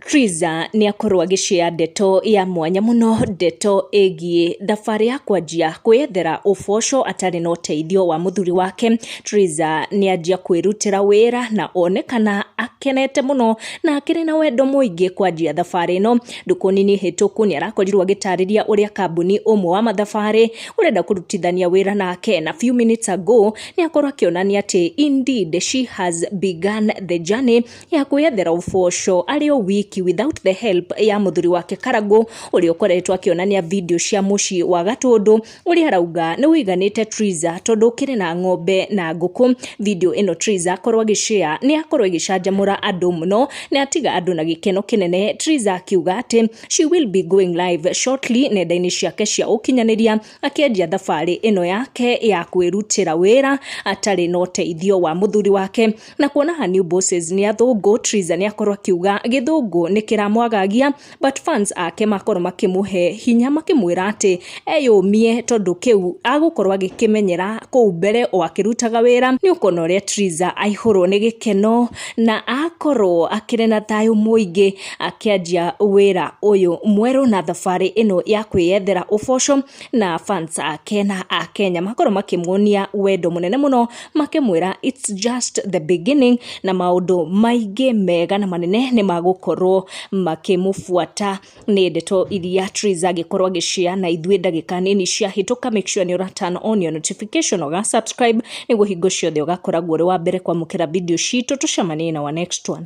Triza nĩ akorwo agĩceya ndeto ya mwanya mũno, ndeto ĩgiĩ thabarĩ ya kwanjia kwĩyethera ũboco atarĩ na ũteithio wa mũthuri wake. Triza nĩ anjia kwĩrutĩra wĩra na onekana akenete mũno na akĩrĩ na wendo mũingĩ kwanjia thabarĩ ĩno. Ndukũ nini hĩtũku nĩ arakorirwo agĩtarĩria ũrĩa kambuni ũmwe wa mathabarĩ ũrenda kũrutithania wĩra nake na few minutes ago nĩ akorwo akĩonania atĩ indeed she has begun the journey ya kwĩyethera ũboco arĩ o wiki without the help ya mũthuri wake Karangũ ũrĩa ũkoretwo akĩonania video cia mũciĩ wa Gatũndũ ũrĩa arauga nĩ ũiganĩte Triza tondũ ũkĩrĩ na ng'ombe na ngũkũ. Video ĩno Triza akorwo agĩshare nĩ yakorwo ĩgĩcanjamũra andũ mũno na yatiga andũ na gĩkeno kĩnene, Triza akiuga atĩ she will be going live shortly nenda-inĩ ciake cia ũkinyanĩria akĩanjia thabarĩ ĩno yake ya kwĩrutĩra wĩra atarĩ na ũteithio wa mũthuri wake. Na kuona her new bosses nĩ athũngũ, Triza nĩ akorwo akiuga gĩthũngũ nĩ kĩramwagagia but fans ake makorwo makĩmũhe hinya makĩmwĩra atĩ eyũmie tondũ kĩu agũkorwo agĩkĩmenyera kũu mbere o akĩrutaga wĩra nĩ ũkona ũrĩa Triza aihũrwo nĩ gĩkeno na akorwo akĩrĩ na thayũ mũingĩ akĩanjia wĩra ũyũ mwerũ na thabarĩ ĩno ya kwĩyethera ũboco na fans ake na Akenya makorwo makĩmuonia wendo mũnene mũno. makĩmwĩra it's just the beginning na maũndũ maingĩ mega na manene nĩ magũkorwo makĩmũbuata nĩ ndeto iria Triz agĩkorwo agĩcia na ithuĩ ndagĩka nini ciahĩtũka make sure nĩ ũra turn on your notification ũga subscribe nĩguo hingo ciothe ũgakoragwo ũrĩ wa mbere kwamũkĩra video citũ tũcemanie na wa next one